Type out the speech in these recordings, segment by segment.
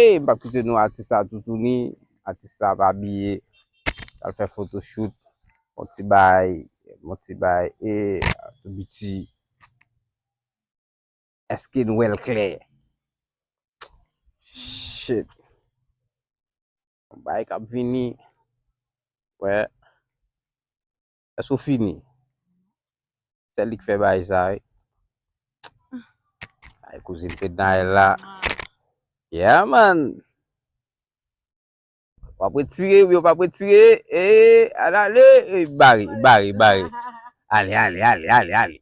Hey mpap kite nou atis la toutouni atis la ap abiye pral fè photoshoot bon ti baay bon ti baay eeh tou biti eske nou wèl klè shitt yon baay kap vini wè. Eske ou fini? Se li ki fè bagay sa wi. Ay kouzin Fednaelle la. Yeah man. Ou pa pwè tire ou byen ou pa pwè tire. Eee al ale. Eee bari bari bari. Ale ale ale ale ale.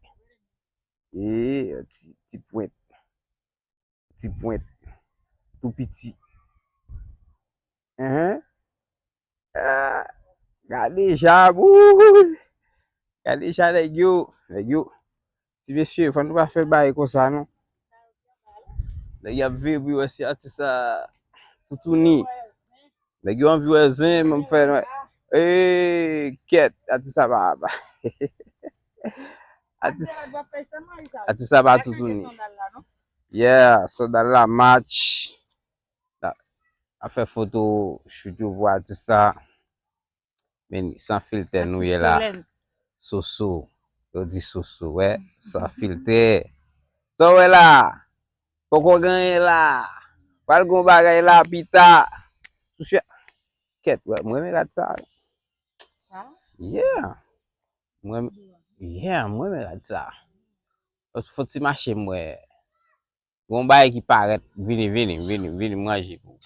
Eee ti pwent. Ti pwent. Tou piti. Ehe. Ah, gade jab, ouh, gade jab nèg yo, nèg yo. Ti mesye, fò nou pa fè bay konsa non. Nèg y ap viv pou yo wè si atis la toutouni. Nèg yo anvi wè zen, mwen m fè wè. Ee, kèt, atis la pa pa. Atis, atis la pa toutouni. Yeah, sandal la match. A fè foto shoot yo pou atis la. Men san filtè nou ye la. Soso. Yo di soso we. San filtè. Sa we la. Poko genye la. Pal gon bagay la pita. Soso. Ket we. Mwen me rad sa. Sa? Yeah. Mwen. Yeah. Mwen me rad sa. Foti mache mwen. Gon bagay ki parèt vini vini vini vini manje pou ou.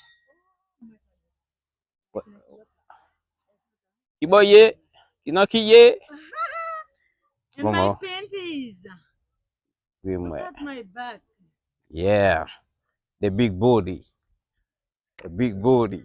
Kibo ye? Ki nan ki ye? Bon bon. Gri mwen. Yeah. The big body. The big body.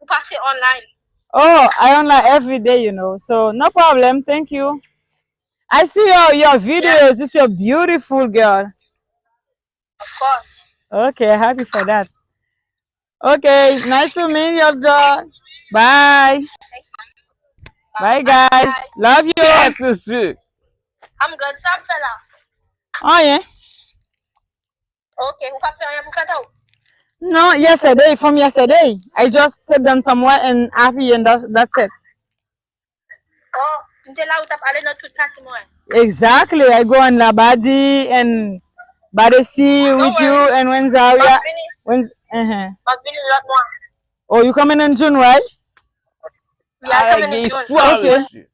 Ou pase online. Oh I online everyday you know so no problem thank you I see your your videos it's your beautiful girl. Of course. Ok happy for that ok nice to meet you Abdul bye bye guys love you. How to see. I'm good sa ap fè la. Anyen. Ok, ou pa fè anyen pou fèt ou? No, yesterday, from yesterday. I just sit down somewhere and apiye and that's it. Oh, m te la ou tap ale nan tout kati mwen. Exactly, I go on Labadi and Badesi with you and Rwenzori. Map vini, map vini lòt mwa. Oh you coming in June right? Yeah, I coming in June. Gen istwa mesye.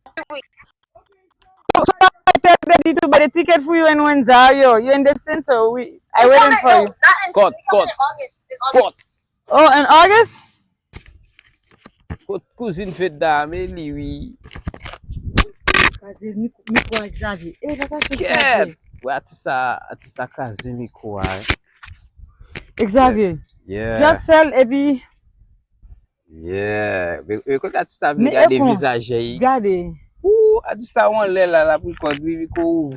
So I tell daddy to buy the ticket for you and Wenzel yo. You in the scene so we I waiting for you. Kot, kot, kot. Oh in August? Kot kouzin Fedna a men li wi. Kaze mikwa Xavier. Kèt. Wè atis sa, atis sa kaze mikwa. Xavier Just fèl epi Yeah Kote Atousta vle gade vizaje yi Gade Ooh Atousta ou anlè la lap record wi Rico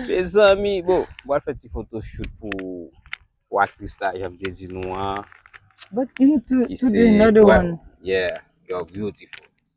Mezanmi Bon Mwen fè ti foto shoot pou Aktris la janm te di nou an But you two another one Yeah You're beautiful